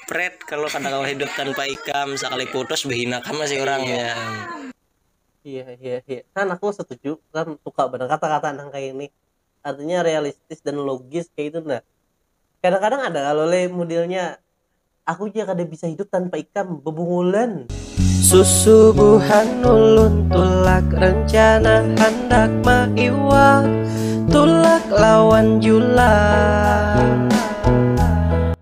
Pret, kalau kada kawa hidup tanpa ikam, sakali putus bahina ka masih urang ya. Iya, iya, iya. Kan aku setuju, kan suka banar kata-kata nang kaya ini. Artinya realistis dan logis kaya itu nah. Kadang-kadang ada kalo le modelnya aku ja kada bisa hidup tanpa ikam, bebungulan. Susubuhan ulun tulak rencana handak maiwak tulak lawan julak.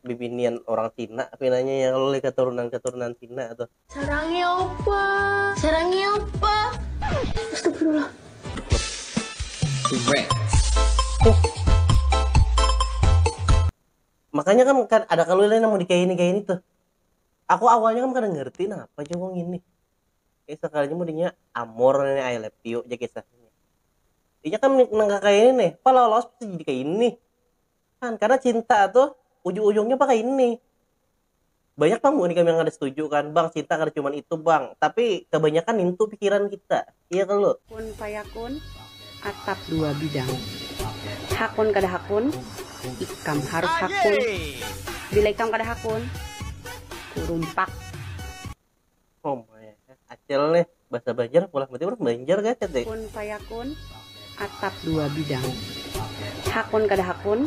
bibinian orang Cina pinanya ya kalo katurunan-katurunan Cina tuh. Sarangnya apa? Sarangnya apa? Astagfirullah. Makanya kan, kan ada kalau lain mau dikayak ini kayak ini tuh. Aku awalnya kan kada ngerti nah apa juga ini. Eh sekalinya mudahnya amor ini I love you aja kisahnya. Iya kan nang kayak ini nih, pala lolos jadi kayak ini. kan karena cinta tuh ujung-ujungnya pakai ini banyak bang ini kami yang ada setuju kan bang cinta kada cuma itu bang tapi kebanyakan itu pikiran kita iya kan lo kun payakun atap dua bidang hakun kada hakun ikam harus hakun bila ikam kada hakun kurumpak Oh my, acil nih bahasa Banjar pulang berarti orang Banjar gak cete. Kun payakun, atap dua bidang. Hakun kada hakun,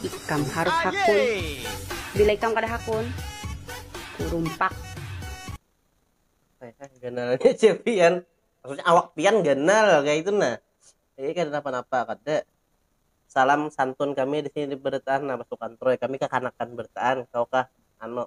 ikam harus hakun. Bila ikam kada hakun, kurumpak. Saya ganalnya cepian, maksudnya awak pian ganal kayak itu nah. Jadi kada napa-napa kada salam santun kami di sini di Bertaan nah pasukan Troy kami kekanakan Bertaan kau kah anu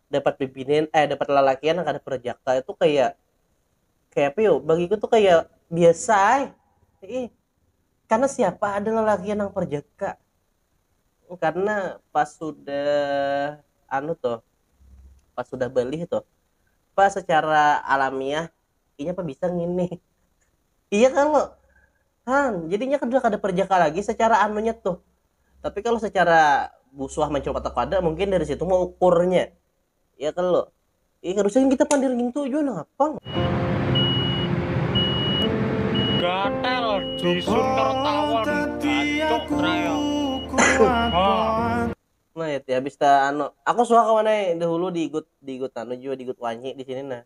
dapat bibinin eh dapat lalakian yang kada perjaka itu kayak kayak apa yo bagiku tuh kayak biasa ay. Ih, karena siapa ada lalakian yang perjaka karena pas sudah anu tuh pas sudah beli tuh pas secara alamiah inya apa bisa ngini iya kan lo han jadinya kan kada perjaka lagi secara anunya tuh tapi kalau secara busuah mencoba atau kada mungkin dari situ mau ukurnya iya kan lo iya kan usah kita pandir gitu juga napa gatel jisun tertawa gancok raya nah ya habis ta anu aku suka kawan dahulu di igut di igut anu juga di igut wanyi di sini nah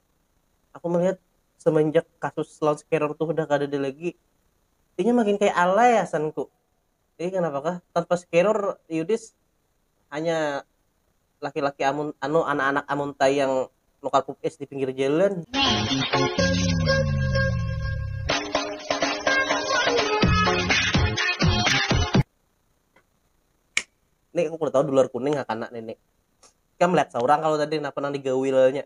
aku melihat semenjak kasus loudscarer tuh udah kada ada lagi ini makin kayak alay asanku ini kenapa kah tanpa scarer Yudis hanya laki-laki amun anu anak-anak amunta yang nukar pup es di pinggir jalan Nek, aku kurang tahu dolar kuning hakana nenek. Kamu melihat seorang kalau tadi kenapa nang digawilnya.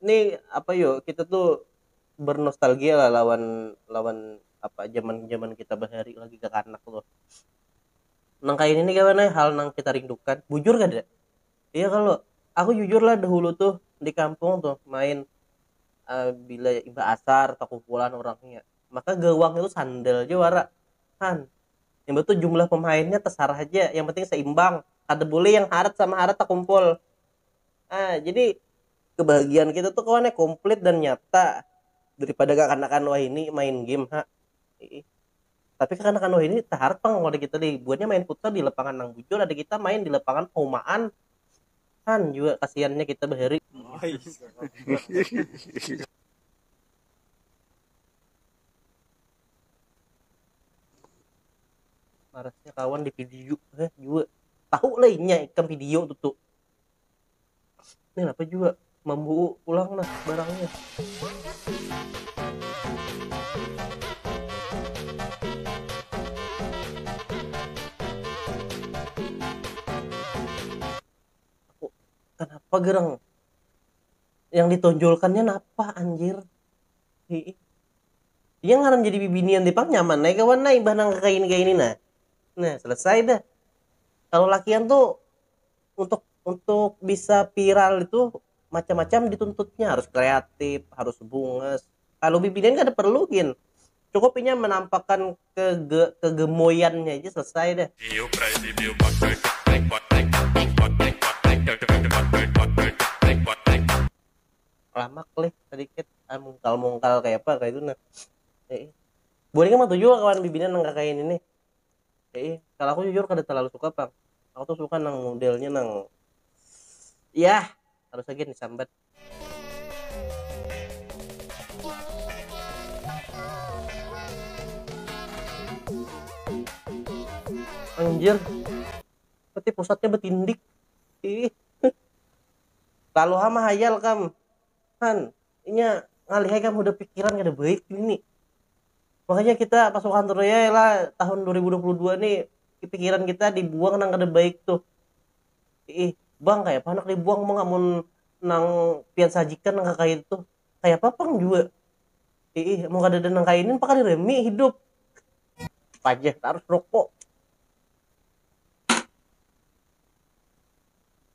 ini apa yo kita tuh bernostalgia lah lawan lawan apa zaman zaman kita bahari lagi kekanak tuh nang kayak ini kawan eh, hal nang kita rindukan bujur kada iya kalau aku jujur lah dahulu tuh di kampung tuh main uh, bila iba asar atau kumpulan orangnya maka gawang itu sandal aja wara kan yang betul jumlah pemainnya terserah aja yang penting seimbang kada boleh yang harat sama harat terkumpul ah jadi kebahagiaan kita tuh kawannya komplit dan nyata daripada kekanakan wahini main game ha Ih. tapi kekanakan wahini taharat pang kalau ada kita deh buatnya main futsal di lapangan nang bujur ada kita main di lapangan haumaan han juga kasihannya kita bahari marasnya kawan di video eh juga tahu lah inya ikam video tuh tuh ini apa juga mambu pulang nah barangnya kenapa gerang yang ditonjolkannya napa anjir Iya ngaran jadi bibinian tadi pang nyaman ai kawan ai imbah nang kaya ini kaya ini nah. Nah, selesai dah. Kalau lakian tuh untuk untuk bisa viral itu macam-macam dituntutnya harus kreatif, harus bungas. Kalau bibinian kada perlu gin. Cukup inya menampakkan kege kegemoyannya aja selesai dah. ramak leh sadikit ah mungkal mungkal kaya apa kaya itu nah eh bulik mah tujuh kawan bibinan nang kaya ini nih eh kalau aku jujur kada terlalu suka pang aku tuh suka nang modelnya nang yah harus lagi disambat anjir berarti pusatnya betindik ih Lalu ha mahayal kam. Han, inya ngalih ai kam hudah pikiran kada baik jua ini. Makanya kita pasukan Troya ya lah tahun dua ribu dua puluh dua ni pikiran kita dibuang nang kada baik tuh. Iih, bang kayapa handak dibuang pang amun nang pian sajikan nang kakaytu tuh. Kayapa pang jua. Iih, amun kadada nang kaini napa kada rami hidup. Pajah tarus rokok.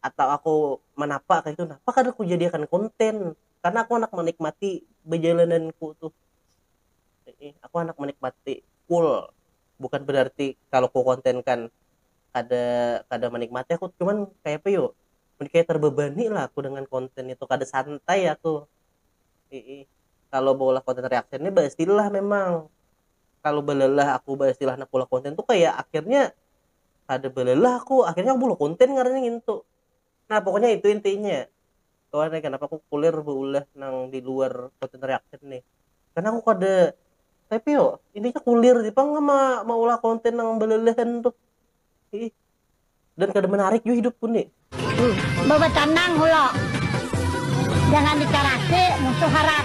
atau aku manapa kaitu nah apa kada kujadiakan konten karna aku handak manikmati bajalananku tuh aku handak manikmati full bukan berarti kalu ku kontenkan kada kada manikmati aku cuman kaya apa yu mun kaya terbebani lah aku dengan konten itu kada santai aku iih kalu baulah konten reaction ni baistilah memang kalu balalah aku baistilah handak baulah konten tu kaya akhirnya. kada belelah aku akhirnya aku bulu konten ngarannya ngintu nah pokoknya itu intinya kawan ya kenapa aku kulir beulah nang di luar konten reaction nih karena aku kada tapi yo intinya kulir sih pang ma maulah konten nang belelehan tuh Ih. dan kada menarik juga hidupku nih Bawa canang hulo. Jangan dicarasi musuh harap.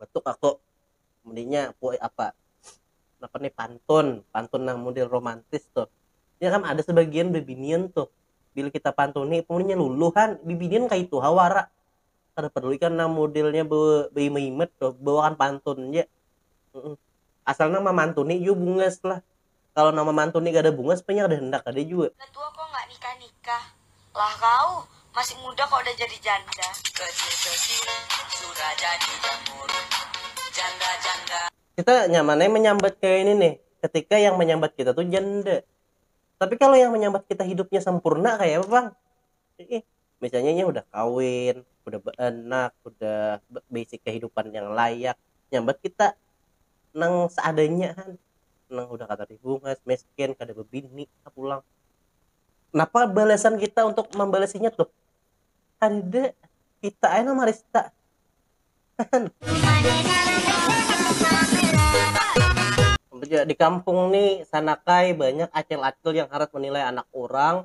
Batuk aku. Mundinya puai apa. Napa nih pantun. Pantun nang mudel romantis tuh. Nya kan ada sebagian bibinian tuh. Bila kita pantuni itu munnya luluh han. Bibinian kaitu ha wara. Kada paduli kan nang mudelnya be baimat-imat tuh. Bawakan pantun ja. Asal nang mamantuni jua bungas lah. kalo nama mantun ni kada bungas panya kada handak kada jua. Udah tua kok nggak nikah nikah. Lah kau, masih muda kok udah jadi janda. Kecil kecil sudah jadi jambur janda janda. Kita nyaman ai manyambat kaya ini nih, ketika yang manyambat kita tu janda. Tapi kalo yang manyambat kita hidupnya sampurna kaya apa pang? Iih. misalnya inya hudah kawin hudah baanak hudah baisi kahidupan yang layak nyambat kita nang seadanya ha nang hudah kada ribungas miskin kada babini ha pulang napa balasan kita untuk mambalasinya tuh kadada kita ai nang marista di kampung nih sanakai banyak acil-acil yang harat menilai anak urang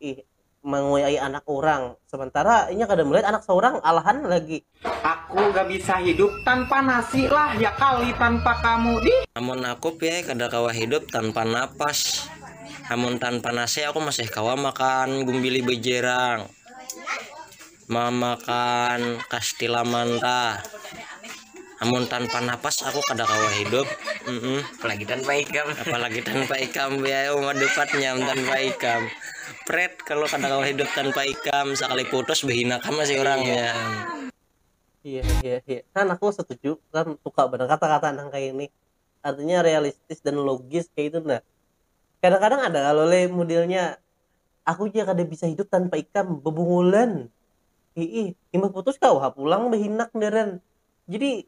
ih mengoyai anak orang sementara inya kada melihat anak seorang alahan lagi. Aku ga bisa hidup tanpa nasi lah ya kali tanpa kamu dih. Amun aku piye kada kawa hidup tanpa napas. Amun tanpa nasi aku masih kawa makan gumbili bejerang. mamakan kastila manta amun tanpa napas aku kada kawa hidup mm -mm. apalagi tanpa ikam apalagi tanpa ikam ya umat dupatnya tanpa ikam pret kalau kada kawa hidup tanpa ikam sekali putus behina kam masih orangnya iya iya iya kan aku setuju kan suka benar kata-kata nang kayak ini artinya realistis dan logis kayak itu nah kadang-kadang ada kalau le modelnya Aku ja kada bisa hidup tanpa ikam bebungulan. Hiih, imbah putus kawa ha pulang behinak ngaran. Jadi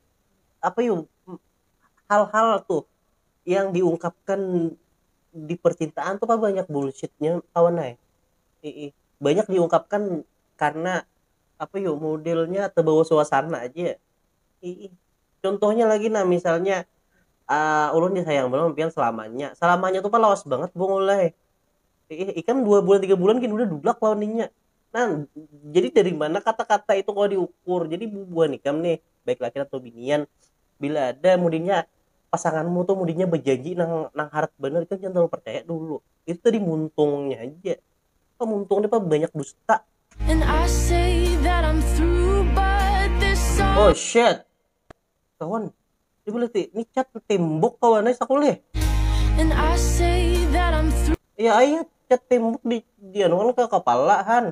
apa yu hal-hal tuh yang diungkapkan di percintaan tuh pang banyak bullshitnya kawan ai. Hiih, banyak diungkapkan karena apa yu modelnya tebawa suasana ja. Hiih, contohnya lagi nah misalnya ulun disayang banar wan pian selamanya. Selamanya tuh pang lawas bangat bungul ai. eh, ikam dua bulan tiga bulan gini udah dublak lawan inya nah jadi dari mana kata-kata itu kalau diukur jadi bubuhan ikam nih baik laki atau binian bila ada mudinya pasanganmu tuh mudinya berjanji nang nang harat bener itu jangan terlalu percaya dulu itu tadi muntungnya aja apa muntungnya apa banyak dusta oh shit kawan jadi boleh ti ini cat tembok kawan eh sakul eh ya ayah cat tembok di di anu kan ke kepala han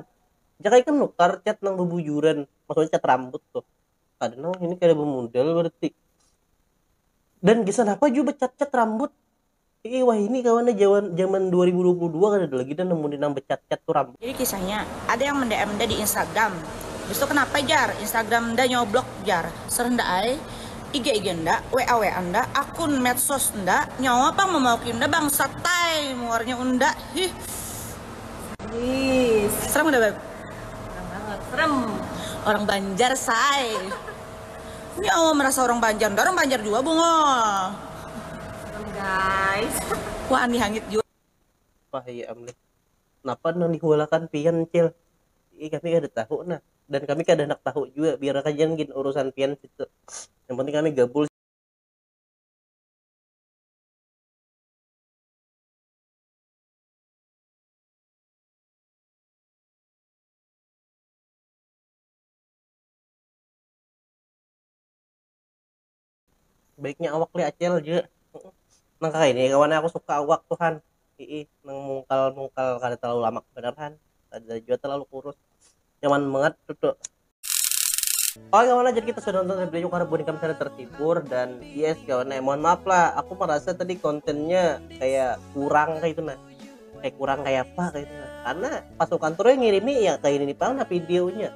jangan ikan nukar cat nang bebujuran maksudnya cat rambut tuh kada nang ini kada bermodal berarti dan kisah apa juga cat cat rambut Ih wahini kawan ne jaman jaman dua ribu dua puluh dua kadada lagi dah nemu nang becat cat tu rambut. Jadi kisahnya, ada yang mendm nda di instagram, habis tu kenapa jar instagram nda nyawa blok jar, serh nda ai, ig ig nda, wa wa nda, akun medsos nda, nyawa pang memauki nda bangsat tai muarnya unda hih. Serem kada beb. Serem banget serem. Orang banjar say. Ini awal merasa orang Banjar, nda orang Banjar jua bungol. Wah Andi hangit jua. Wah iya am lih. Napa nang dihualakan pian cil? Ih kami kada tahu nah. Dan kami kada handak tahu jua, biar haja gin urusan pian situ. Yang penting kami gabul. baiknya awak lih acil ja nang kaya ini kawan aku suka awak tu han ii nang mungkal mungkal kada terlalu lamak banar han kada jua terlalu kurus nyaman bangat tutu. Oke kawan jadi kita sudah nonton review karena buat kami sudah terhibur dan yes kawan nah, mohon maaf lah aku merasa tadi kontennya kayak kurang kayak itu nah kayak kurang kayak apa kayak itu nah karena pasukan turun yang ngirimi ya kayak ini pang nah videonya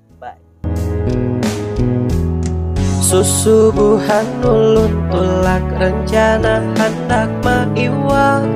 bye susubuhan ulun tulak rencana handak maiwak